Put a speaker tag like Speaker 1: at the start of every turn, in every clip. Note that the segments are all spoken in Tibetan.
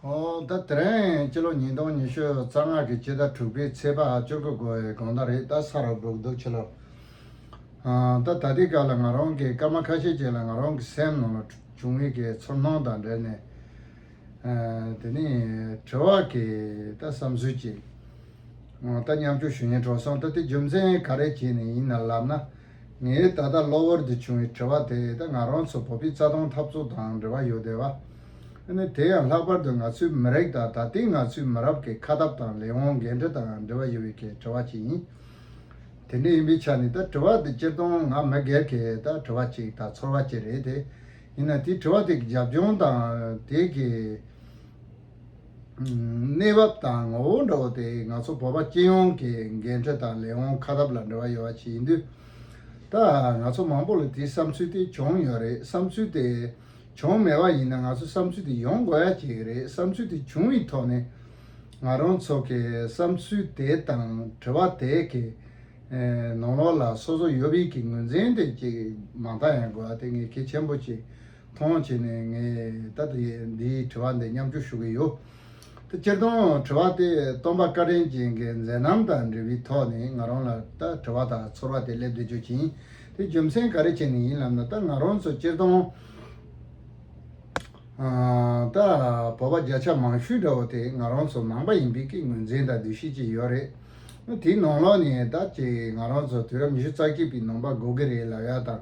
Speaker 1: ཟླ་དེ་རིང་སྤྱི་ལོ་ཉིས་སྟོང་ཉི་ཤུ་རྩ་ལྔ་གི་ཕྱི་ཟླ་དྲུག་པའི་ཚེས་པ་བཅུ་དགུ་དགོ་བའི་དགོང་ཟླ་རེད་ད་ས་ར་སྦུག་འདུག་ཕྱི་ལོ། ད་ད་ལྟའི་སྐབས་ལ་ང་རང་གིས་སྐར་མ་ཁ་ཤས་ཅིག་ལ་ང་རང་གི་སེམས་ནང་ལ་བྱུང་བའི་གེ་ཚོར་སྣང་དང་འབྲེལ་ནས་དེ་ནས་དྲི་བ་གི་ད་བསམ་ཚུལ་ཅིག་ད་མཉམ་སྐྱོང་ཞུ་ཉེན་འཕྲོག་སོང་ད་དེ་རྒྱུ་མཚན་ག་རེ་བྱས་ནས་ཡིན་ནལ་ལབ་ན། ངའི་ད་ལྟ་གློ་བུར་དུ་བྱུང་བའི་དྲི་བ་དེ་ད་ང་རང་ཚོ་བོད་པའི་རྩ་དོན་འཐབ་རྩོད་དང་འབྲེལ་བ་ཡོད་དེ། བ་ནི་དེ་ཡང་ལྷག་པར་དུ་ང་ཚོའི་མི་རིགས་དང་ད་ལྟའི་ང་ཚོའི་མི་རབས་ཀྱི་ཁ་སྟབས་དང་ལས་དབང་འགན་འཁྲི་དང་འབྲེལ་བ་ཡོད་པའི་ཁའི་དྲི་བ་ཅིག་ཡིན། དེ་འདྲ་ཡིན་པའི་ཆ་ནས་ད་དྲི་བ་དེ་སྤྱིར་བཏང་ང་མི་སྒེར་གྱི་ད་དྲི་བ་ཅིག་དང་ཚོར་བ་ཅིག་རེད་དེ། ཡིན་ན་དེའི་དྲི་བ་དེ་གི་རྒྱབ་ལྗོངས་དང་དེ་གི། གནས་བབ་དང་ངོ་བོ་འདྲ་བོ་དེ་ང་ཚོ་བོད་པ་སྤྱི་ཡོངས་ཀྱི་འགན་འཁྲི་དང་ལས་དབང་ཁ་རབ་ལ་འབྲེལ་བ་ཡོད་པ་ཞིག་ཡིན་དུས། ད་ང་ཚོ་མང་པོ་ལ་དེའི་བསམ་ཚུལ་དེ་བྱུང་ཡོད་རེད་བསམ་ཚུལ་དེ་བྱུང་མེད་པ་ཡིན་ན་ང་ཚོའི་བསམ་ཚུལ་དེ་ཡོང་དགོས་ཡ་གཅིག་རེད་བསམ་ཚུལ་དེ་བྱུང་བའི་ཐོག་ནས་ང་རང་ཚོ་གི་བསམ་ཚུལ་དེ་དང་དྲི་བ་དེ་གི་ནང་ལོགས་ལ་སོ་སོ་ཡོད་དབུས་ཀྱི་ངོས་འཛིན་དེ་གཅིག་མང་དག་ཡང་དགོས་པ་དེ་ངས་གལ་ཆེན་པོ་ཞིག་ཐོངས་བྱས་ནས་ངས་ད་འདིའི་དྲི་བ་འདི་མཉམ་སྤྱོད་ཞུ་གི་ཡོད། སྤྱིར་བཏང་དྲི་བ་དེ་སྟོན་པ་བཀའ་དྲིན་ཅན་གྱི་མཛད་རྣམ་དང་འབྲེལ་བའི་ཐོག་ནས་ང་རང་ལ་ད་དྲི་བ་དང་ཚོར་བ་དེ་སླེབས་འདོད་བྱུང་ཞིང་དེ་རྒྱུ་མཚན་ག་རེ་བྱས་ནས་ཡིན་ལབ་ན་ད་ང་རང་ཚོ་སྤྱིར་བཏང་ད་བོད་པ་བརྒྱ་ཆ་མང་ཤོས་འདྲ་བོ་དེ་ང་རང་ཚོ་ནང་པ་ཡིན་པའི་ཀྱི་ངོས་འཛིན་དང་འདུ་ཤེས་ཅིག་ཡོད་རེད། དེའི་ནང་ལོགས་ནས་ད་ཅིག་ང་རང་ཚོ་དུས་རབས་ཉི་ཤུ་རྩ་གཅིག་པའི་ནང་པ་འགོ་གི་རེད་ལབ་ཡ་དང་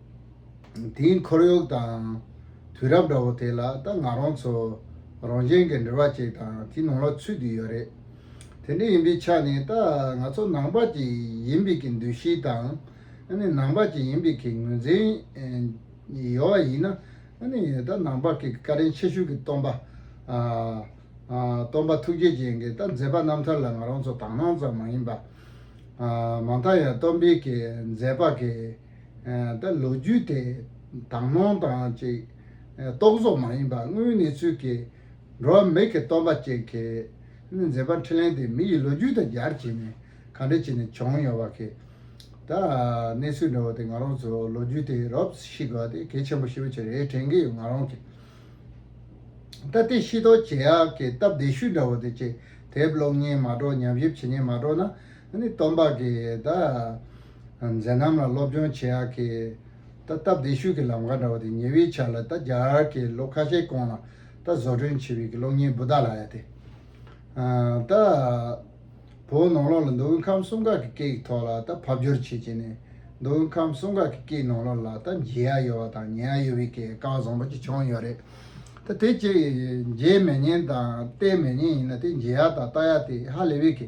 Speaker 1: དེའི་འཁོར་ཡུག་དང། དུས་རབས་འདྲ་བོ་དེ་ལ་ད་ང་རང་ཚོ་རང་གཞན་གྱི་འབྲེལ་བ་ཅིག་དང་དེ་ནང་ལ་ཚུད་དུ་ཡོད་རེད། དེ་འདྲ་ཡིན་པའི་ཆ་ནས་ད་ང་ཚོ་ནང་པ་ཅིག་ཡིན་པའི་གི་འདུ་ཤེས་དང། ནང་པ་ཅིག་ཡིན་པའི་གི་ངོས་འཛིན་ཡོད་བ་ཡིན་ན། ད་ནང་པ་གི་བཀའ་དྲིན་ཆེ་ཤོས་གི་སྟོན་པ། སྟོན་པ་ཐུགས་རྗེ་ཅན་གྱི་ད་མཛད་པ་རྣམ་ཐར་ལ་ང་རང་ཚོ་དག་སྣང་ཙམ་མ་ཡིན་པ། མང་དག་ཡང་སྟོན་པའི་གི་མཛད་པ་གི། ད་ལོ་རྒྱུས་དེ་དག་སྣང་དང་གཅིག་རྟོག་བཟོ་མ་ཡིན་པར་དངོས་གནས་ཚུལ་གྱི་འགྲོ་བ་མི་གི་སྟོང་པ་ཅན་གྱི་མཛེས་པ་འཕྲིན་ལན་དེ་མི་ཡི་ལོ་རྒྱུས་དང་སྦྱར་བྱས་ནས་ག་འདྲ་བྱས་ནས་བྱུང་ཡོང་བ་གི་ད་གནས་ཚུལ་འདྲ་བོ་དེ་ང་རང་ཚོ་ལོ་རྒྱུས་དེ་རོབ་ཤི་དགོས་པ་དེ་གལ་ཆེན་པོ་ཞེ་པོ་ཆེ་རེད་དྲན་གི་ཡོད་ང་རང་གི་ད་དེ་ཤེས་རྟོགས་བྱེད་ཡག་གི་སྟབས་བདེ་ཤུལ་འདྲ་བོ་དེ་ཅི་དེབ་ཀློག་ཉིན་མ་གྲོགས་ཉམས་ཞིབ་བྱེད་ཉིན་མ་གྲོགས་ན་ནི་སྟོང་པ་གི་ད། མཛད་རྣམ་ལ་སློབ་སྦྱོང་བྱེད་ཨག་གི། ད་སྟབས་བདེ་བཤུས་ཀྱི་ལམ་ཁ་འདྲ་བ་དེ་ཉེ་བའི་ཆ་ལ་ད་རྒྱ་གར་གྱི་ལོ་ཁ་ཤས་གོང་ལ་ད་བཟོ་སྐྲུན་བྱས་པའི་གི་གློག་བརྙན་བུདྡྷ་ལ་ཡ་དེ། ད་བོད་ནང་ལོགས་ལ་མདོ་དབུས་ཁམས་གསུམ་ཀ་གི་སྐད་ཡིག་ཐོག་ལ་ད་ཕབ་སྒྱུར་བྱེད་བྱེད་ནས་མདོ་དབུས་ཁམས་གསུམ་ཀ་གི་སྐད་ནང་ལོགས་ལ་ད་མཇལ་ཨ་ཡོད་བ་དང་ཉན་ཨ་ཡོད་བའི་གི་རྐང་བཟང་པོ་ཅིག་བྱུང་ཡོད་རེད། ད་དེ་ཅི་མཇལ་མེད་བརྙན་དང་བལྟས་མེད་བརྙན་ཡིན་ན་དེ་མཇལ་ཨ་དང་ལྟ་ཡ་དེ་ཧ་ལས་བའི་གི།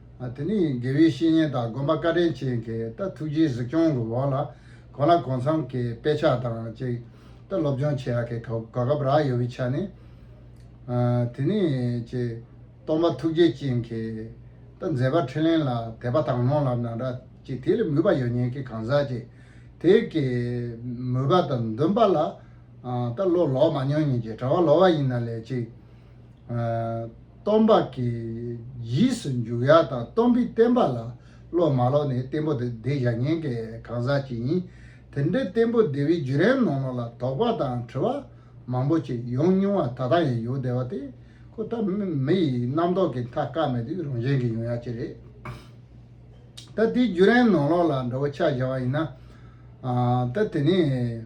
Speaker 1: དེ་ནི་དགེ་བའི་བཤེས་གཉེན་དང་དགོན་པ་བཀའ་དྲིན་ཅན་གྱིས་ད་ཐུགས་རྗེའི་གཟིགས་སྐྱོང་གི་འོག་ལ་གོ་ལ་གོ་མཚམས་ཀྱི་དཔེ་ཆ་དང་བཅས་ད་སློབ་སྦྱོང་བྱེད་ཡག་གི་གོ་སྐབས་རག་ཡོད་པའི་ཆ་ནས། དེ་ནི་ཅེས་སྟོང་པ་ཐུགས་རྗེ་ཅན་གྱིས་ད་མཛད་པ་ཕྲིན་ལས་ལ་དད་པ་དང་ནོར་ལ་ན་འདྲ་ཅིག་དེ་ལས་མོས་པ་ཡོད་ཉེན་གྱི་གང་ཟག་ཅིག་དེ་གའི་མོས་པ་དང་འདུན་པ་ལ་ད་བློ་ལོག་མ་མྱོང་ཉིན་གྱི་གྲྭ་བ་ལོག་བ་ཡིན་ན་ལས་ཅི། སྟོང་པ་གི་གཞིས་སུ་འཇུག་ཡ་དང་སྟོང་པའི་བསྟན་པ་ལ་བློ་མ་ལོག་ནས་བསྟན་པོ་དེ་བདེ་བཞག་ཉན་མཁན་གང་ཟག་ཅིག་ཡིན། དེ་འདྲའི་བསྟན་པོ་བདེ་བའི་བརྒྱུད་རན་ནོ་ནོ་ལ་དོགས་པ་དང་དྲི་བ་མང་པོ་ཅིག་ཡོང་མྱོང་བ་ད་ལྟ་ཡང་ཡོང་བསྡད་པ་དེ་ཁོ་ལྟ་བུ་མི་ཡི་རྣམ་རྟོག་གི་མཐའ་བཀག་མེད་དུས་རང་གཞན་གྱི་ཡོང་ཡ་ཅི་རེད། ད་དེའི་བརྒྱུད་རན་ནོ་ནོ་ལ་འདྲ་བོ་ཆགས་བཞག་པ་ཡིན་ན། ད་དེ་ནས།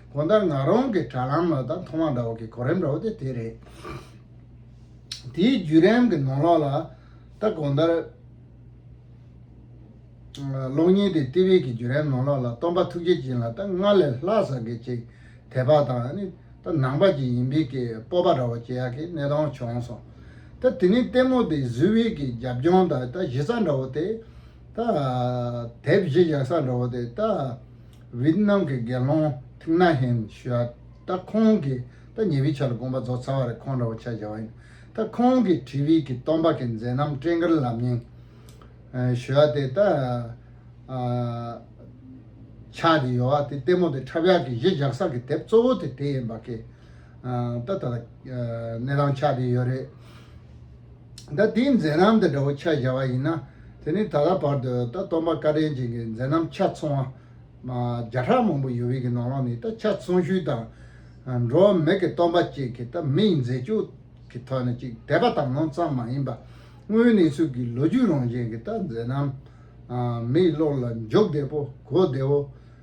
Speaker 1: གོང་ལྟར་ང་རང་གི་དྲ་ལམ་ལ་དང་ཐོག་མ་འདྲ་བ་གི་གོ་རིམ་འདྲ་བོ་དེ་དེ་རེད། དེའི་བརྒྱུད་རིམ་གི་ནང་ལོགས་ལ་ད་གོང་ལྟར། གློག་བརྙན་དེ་ཏི་ཝི་གི་བརྒྱུད་རིམ་ནང་ལོགས་ལ་སྟོང་པ་ཐུགས་རྗེ་སྦྱིན་ལ་ད་སྔར་ལས་ལྷག་བསགས་ཀྱི་ཅིག་དད་པ་དང་ནི་ད་ནང་པ་ཅིག་ཡིན་པའི་གི་སྤོབས་པ་འདྲ་བོ་སྐྱེ་ཡག་གི་གནས་སྟངས་བྱུང་སོང། ད་དེ་ནི་ལྟད་མོ་དེ་བཟི་བྷི་གི་རྒྱབ་ལྗོངས་དང་ད་གཞི་རྩ་འདྲ་བོ་དེ། ད་དེབ་གཞི་བཞག་ས་འདྲ་བོ་དེ་ད། ཝིཏ་ནམ་གྱི་དགེ་སློང་ཐིག་ནཱ་ཧན་ཞུ་ཨ་ད་ཁོང་གིས་ད་ཉེ་བའི་ཆར་དགོངས་པ་རྫོགས་ཚར་བ་རེད་ཁོང་འདྲ་བོ་ཆ་བཞག་བ་ཡིན་ད་ཁོང་གིས་བྲིས་ཝིད་ཀྱི་སྟོང་པ་གི་མཛད་རྣམ་སྤྲེལ་མཁར་ལམ་ཉིང་ཞུ་ཨ་དེ་ད་ཆགས་ཀྱི་ཡོད་བ་དེ་ལྟད་མོ་དེ་འཁྲབ་ཡག་གི་གཞི་བཞག་ས་གི་དེབ་གཙོ་བོ་དེ་དེ་ཡིན་པ་ཁེ། ད་ལྟ་གནས་སྟངས་ཆགས་བསྡད་ཡོད་རེད། ད་དེའི་མཛད་རྣམ་དེ་འདྲ་བོ་ཆ་བཞག་པ་ཡིན་ན་དེ་ནི་ད་ལྟ་བར་དུ་ད་སྟོང་པ་བཀའ་དྲིན་ཅན་གྱི་མཛད་རྣམ་ཆ་ཚང་བ་བརྒྱ་ཕྲག་མང་པོ་ཡོད་བི་གི་ནང་ལོགས་ནས་ད་ཆ་ཚང་ཤུལ་དང། འགྲོ་བ་མི་གི་སྟོང་པ་བཅས་ཀྱི་ད་མི་ཡི་མཛད་སྤྱོད་ཀྱི་ཐོག་ནས་ཅིག་དད་པ་དམ་ལོང་ཙམ་མ་ཡིན་པ་དངོས་གནས་ཚུལ་གྱི་ལོ་རྒྱུས་རང་བཞིན་གྱི་ད་མཛད་རྣམ། མི་ཡི་བློ་ལ་འཇོག་བདེ་པོ་གོ་བདེ་བོ།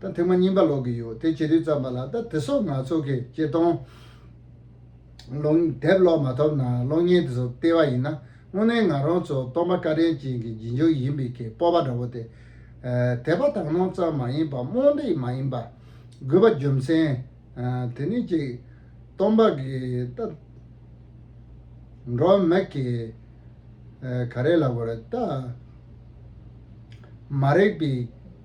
Speaker 1: ད་ཐེངས་མ་རྙིང་པ་ལོག་གི་ཡོད་དེ་ཇེ་དྲིལ་བརྩམས་པ་ལ་ད་དེ་སོགས་ནག་ཚོགས་ཀྱི་གཅེས་སྟོང། ལོང་དེབ་ཀློག་མ་ཐོབ་ན་གློག་བརྙན་དེ་ཚོ་ལྟེ་བ་ཡིན་ན་དངོས་གནས་ང་རང་ཚོ་སྟོང་པ་སྐལ་ལྡན་ཅན་གྱི་རྗེས་འཇུག་ཡིན་པའི་གི་སྤོབས་པ་འདྲ་བོ་དེ། དད་པ་དག་སྣང་ཙམ་མ་ཡིན་པ་རྨོངས་དད་མ་ཡིན་པ། དགོས་པ་རྒྱུ་མཚན། དེ་ནི་གཅིག། སྟོང་པ་གི་ད། འགྲོ་མེད་ཀྱི། ག་རེ་ལ་བོར་ད། མ་རེག་པའི།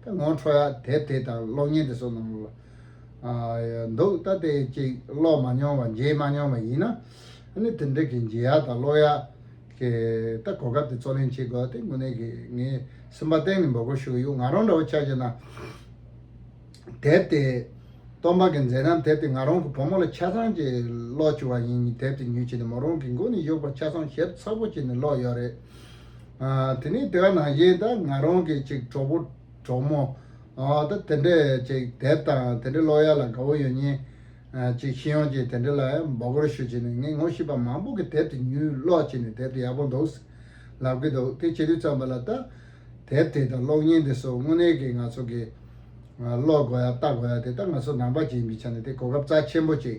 Speaker 1: ད་ངོ་འཕྲོ་ཡ་དེབ་དེ་དང་གློག་བརྙན་དེ་ཚོ་ནང་ལ་འདུག་ད་དེ་གཅིག་ཀློག་མ་མྱོང་བ་མཇལ་མ་མྱོང་བ་ཡིན་ན་ནི་དེ་འདྲ་གི་མཇལ་ཡ་དང་ཀློག་ཡ་གི་ད་གོ་སྐབས་དེ་ཚོ་ལེན་བྱེད་དགོས་བ་དེ་དངོས་གནས་གི་ངའི་སེམས་པ་གཏན་ནས་འབོད་སྐོར་ཞུ་གི་ཡོད་ང་རང་འདྲ་བ་ཆ་བྱས་ན་དེབ་དེ་སྟོང་པ་གི་མཛད་རྣམ་དེབ་དེ་ང་རང་གི་བུ་མོ་ལ་ཆ་ཚང་གི་ཀློག་བཅུག་བ་ཡིན་དེབ་དེ་ཉོས་བྱས་ནས་མོ་རང་གི་མགོ་ནས་གཡུག་པར་ཆ་ཚང་ཞིབ་ཚགས་པོ་བྱས་ནས་ཀློག་ཡོད་རེད། དེ་ནས་དེ་ག་ནང་བཞིན་ད་ང་རང་གི་ཅིག་གྲོགས་པོ་གྲོགས་མོ་ད་དེ་འདྲས་ཅིག་དད་དང་དེ་འདྲས་ཀློག་ཡ་ལ་དགའ་བོ་ཡོད་ཉིན་ཅིག་ཤི་ཡོང་ཅིག་དེ་འདྲས་ལ་ཡང་འབོ་གོར་ཞུ་ཅིག་ནས་ངས་ངོ་ཤེས་པ་མང་པོ་གི་དེབ་དེ་ཉུལ་ཀློག་ཅིག་ནས་དེབ་དེ་ཡག་པོ་འདུག་ཟེར་ལབ་ཀི་འདུག་དེ་བྱེད་དུས་ཙམ་པ་ལ་ད་དེབ་དེ་དང་གློག་བརྙན་དེ་སོགས་དངོས་གནས་ཀྱི་ང་ཚོ་གི་ཀློག་དགོས་ཡ་ལྟ་དགོས་ཡ་དེ་ད་ང་ཚོ་ནང་པ་ཅིག་ཡིན་པའི་ཆ་ནས་དེ་གོ་སྐབས་རྩ་ཆེན་པོ་ཅིག་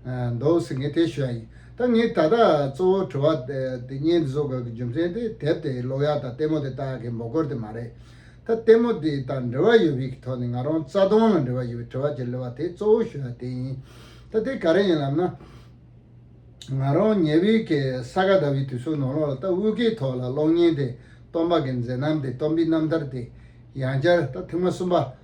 Speaker 1: འདོགས་ཟེར་མཁན་དེ་ཞོལ་ཡིན་ད་ངས་ད་ལྟ་གཙོ་བོ་དྲི་བ་དེ་གཉིས་འདི་ཚོ་གི་རྒྱུ་མཚན་དེ་དེབ་དེ་ཀློག་ཡག་དང་ལྟད་མོ་དེ་ལྟ་ཡག་གི་མགོ་སྐོར་དེ་མ་རེད། ད་ལྟད་མོ་དེ་དང་འབྲེལ་བ་ཡོད་བི་གི་ཐོག་ནས་ང་རང་རྩ་སྟོང་ལ་འབྲེལ་བ་ཡོད་བི་དྲི་བ་གྱི་ལུས་བ་དེ་གཙོ་བོ་ཞོལ་ཡ་དེ་ཡིན། ད་དེ་ག་རེ་ཡིན་ལབ་ན། ང་རང་ཉེ་བི་གི་ས་ག་ཟླ་བི་དུས་སུ་ནོར་ལོག་ལ་ད་དབུས་ཀའི་ཐོག་ལ་གློག་བརྙན་དེ་སྟོང་པ་གི་མཛེས་རྣམ་དེ་སྟོང་བི་རྣམ་ཐར་དེ་ཡང་བསྐྱར་ད་ཐེངས་མ་གསུམ་པ།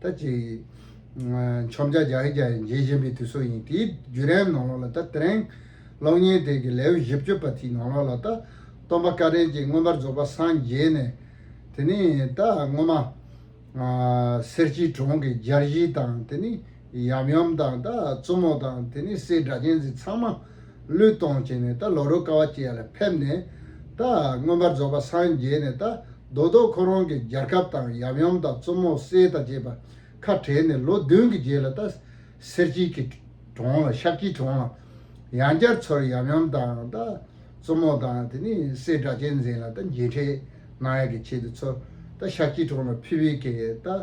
Speaker 1: ད་ཅི། འཆོམ་ཆ་རྒྱག་གི་རྒྱག་ཡིན་རྗེས་གཞན་པའི་དུས་སོགས་ཡིན་དེའི་བརྒྱུད་རན་ནང་ལོགས་ལ་ད་དེ་རན། གློག་བརྙན་དེ་གི་ལེའུ་བཞི་བཅུ་པ་དེའི་ནང་ལོགས་ལ་ད། སྟོང་པ་བཀའ་དྲིན་ཅན་མངོན་པར་རྫོགས་པ་སངས་རྒྱས་ནས། དེ་ནི་ད་སྔོན་མ། གསེར་སྐྱའི་གྲོང་གི་སྦྱར་གཞི་དང་དེ་ནི། ཡམ་ཡོམ་དང་ད་བཙུན་མོ་དང་དེ་ནས་སའི་སྒྲ་གཅན་ཟིག་ཚང་མ་བློས་གཏོང་བྱས་ནས་ད་ལོ་རོ་ཀ་བ་བཅས་ལ་ཕེབས་ནས་ད་མངོན་པར་རྫོགས་པ་སངས་རྒྱས་ནས་ད་རྡོ་རྡོ་ཁོ་རང་གི་རྒྱལ་ཁབ་དང་ཡམ་ཡོམ་དང་བཙུན་མོ་སའི་ད་བཅས་པ་ཁ་བྲལ་ནས་ལོ་བདུན་གྱི་རྗེས་ལ་ད་གསེར་སྐྱིལ་གྱི་གྲོང་ལ་ཤག་སྐྱིལ་གྲོང་ལ་ཡང་བསྐྱར་ཚུར་ཡམ་ཡོམ་དང་ད་བཙུན་མོ་དང་དེ་ནས་སའི་སྒྲ་གཅན་ཟིག་ལ་ད་མཇལ་འཕྲད་གནང་ཡ་གི་ཆེད་དུ་ཚུར་ད་ཤག་སྐྱིལ་གྲོང་ལ་ཕེབས་ཡས་ཀྱི་ད།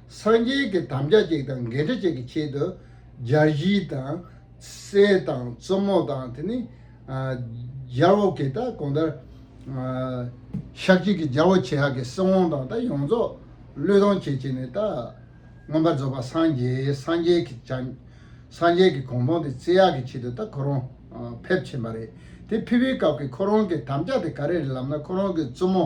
Speaker 1: སངས་རྒྱས་ཀྱི་དམ་བཅའ་གཅིག་དང་འགལ་འབྲེལ་གཅིག་གི་ཆེད་དུ། སྦྱར་གཞི་དང། གསེར་དང་བཙུན་མོ་དང་དེ་ནི། སྦྱར་བོ་གྱི་ད་གོང་ལྟར། ཞག་གཅིག་གི་སྦྱར་བོ་ཆེ་ཧ་གི་སྲིང་བོང་དང་ད་ཡོངས་རྫོགས་བློས་གཏོང་བྱེད་ཅེས་ནི་ད། མངོན་པར་རྫོགས་པ་སངས་རྒྱས་སངས་རྒྱས་ཀྱི་བྱ། སངས་རྒྱས་ཀྱི་གོང་བོང་དེ་བརྩི་ཡག་གི་ཆེད་དུ་ད་ཁོ་རང། ཕེབས་ཕྱིན་པ་རེད། དེ་ཕེབས་པའི་སྐབས་ཀྱི་ཁོ་རང་གི་དམ་བཅའ་དེ་ག་རེ་རེད་ལབ་ན་ཁོ་རང་གི་བཙུན་མོ།